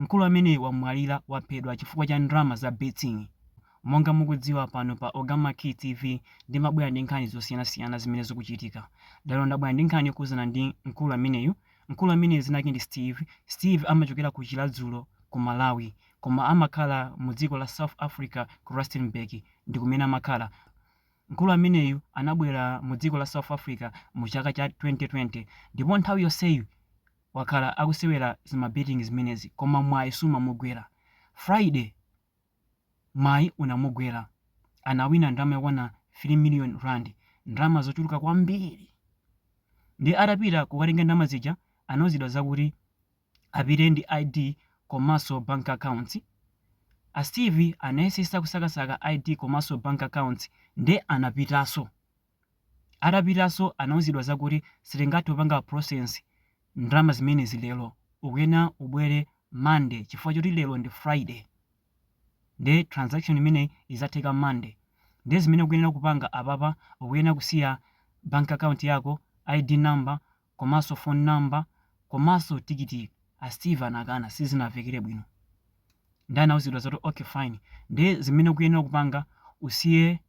Mkulu ameneyu wamwalira waphedwa chifukwa cha ndrama za betting. Monga mukudziwa pano pa Ogamakey TV ndimabwera ndi nkhani zosiyanasiyana zimene zikuchitika. Lero ndabwera ndi nkhani yokhudzana ndi mkulu ameneyu. Mkulu ameneyu dzina lake ndi Steve. Steve amachokera ku Chiradzulo ku Malawi koma amakhala mu dziko la South Africa ku Rustenburg ndikumene amakhala. Mkulu ameneyu anabwera mu dziko la South Africa mu chaka cha 2020 ndipo nthawi yonseyi wakhala akusewera zima betting zimenezi koma mwayi sumawagwera. Friday mwayi unamugwera anawina ndalama yokwana 3 million rand ndalama zochuluka kwambiri ndiye atapita kukatenga ndalama zija anauzidwa zakuti apite ndi ID komanso bank accounts. A Steve anayesesa kusakasaka ID komanso bank accounts ndiye anapitanso. Atapitanso anauzidwa zakuti sitingathe kupanga process ndalama zimenezi lero ukuyenera ubwere monday chifukwa choti lero ndi friday nde transaction imeneyi izatheka monday nde zimene ukuyenera kupanga apapa ukuyenera kusiya bank account yako, ID number, komaso phone number komaso tikiti a steve anakana sizinavekele bwino nde anauzidwa zoti ok fine nde zimene ukuyenera kupanga usiye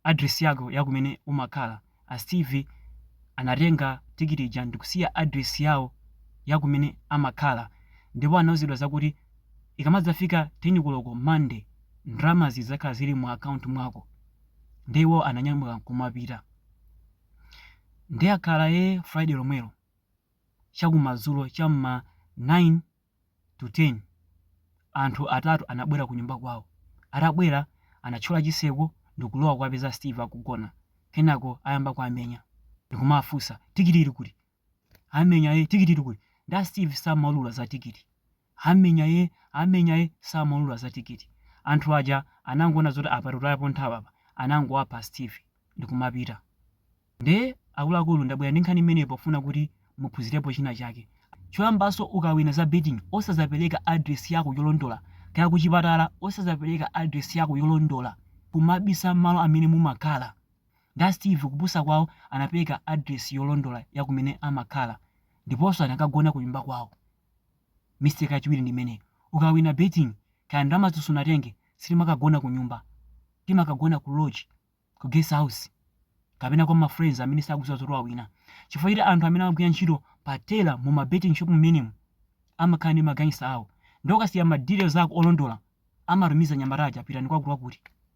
address yako yakumene umakhala a steve anatenga tikiti ija ndikusiya address yawo yakumene amakhala ndipo anauzidwa zakuti ikamadzafika 10 koloko monday ndalamazi zidzakhala zili mu account mwako nde iwo ananyamuka nkumapita. Nde akhala ee Friday lomwelo chakumadzulo cha mma 9 to 10 anthu atatu anabwera kunyumba kwawo. Atabwera anatchola chitseko ndikulowa kuwapeza Steve akugona. Kenako ayamba kuwamenya ndikumawafunsa tikiti ili kuti? amenya e tikiti ili kuti nda steve samaulula za tikiti amenya e amenya e samaulula za tikiti anthu aja anangoona zoti apa tutayapo nthawi apa anangowapha steve ndikumapita nde akuluakulu ndabwera ndi nkhani imeneyi pofuna kuti muphunzirepo china chake choyamba so ukawina za betting osazapereka address yako yolondola kaya kuchipatala osazapereka address yako yolondola kumabisa malo amene mumakhala Nda Steve kupusa kwawo anapeleka address yolondola ya kumene amakhala ndiponso anakagona kunyumba kwawo. Mistake yachiwiri ndi imeneyo. Ukawina betting kaya ndalamazo sunatenge sitimakagona kunyumba. Timakagona ku lodge, ku guest house kapena kwa ma friends amene sakudziwa zoti wawina. Chifukwa choti anthu amene amagwira ntchito pa teller mu ma betting shop mmenemu amakhala ndi ma gangster awo. Nde ukasiya ma details ako olondola amatumiza anyamata aja pitani kwakuti kwakuti.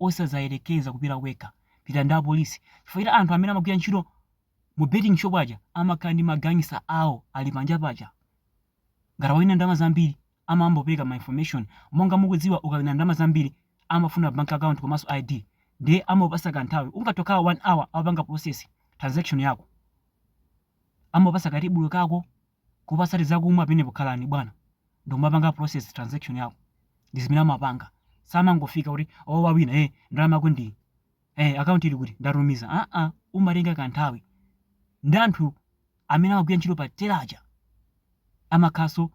Osazayerekeza kupita wekha, pita ndi apolisi chifukwa choti anthu amene amagwira ntchito mu betting shop aja amakhala ndi ma gangster awo ali panja paja. Ngati wawina ndalama zambiri amangopereka ma information. Monga mukudziwa ukawina ndalama zambiri amafuna bank account komanso ID nde amapasa ka nthawi ungathe kukhala 1 hour apanga process transaction yako. Amapasa ka tebulo kako. Kupasa tizakumwa penepo khalani bwana ndikumapanga process transaction yako ndizimene amapanga samangofika kuti oh wawina eh ndalama yako ndiyi eh account ili kuti ndatumiza aa umatenga kanthawi nde anthu amene amagwira ntchito pa tela aja amakhaso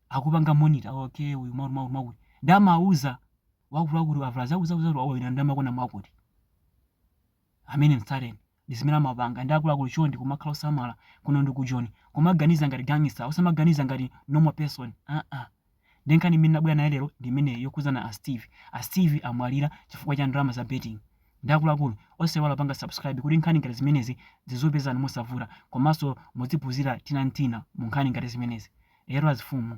akupanga monitor okay uyu makuti makuti makuti nde amauza wakuluakulu avulaza akuzauza kuti wawina ndalama kona mwakuti amene mtsateni ndizimene amapanga nde akuluakulu chonde kumakhala osamala kuno ndi kujoni kumaganiza ngati gangster osamaganiza ngati normal person aa nde nkhani imene nabwera nayo lero ndi imeneyo yokhuzana a steve a steve amwalira chifukwa cha ndalama za betting nde akuluakulu osaiwala kupanga subscribe kuti nkhani ngati zimenezi zizikupezani mosavuta komanso muziphuzira tinantina mu nkhani ngati zimenezi lero azifumu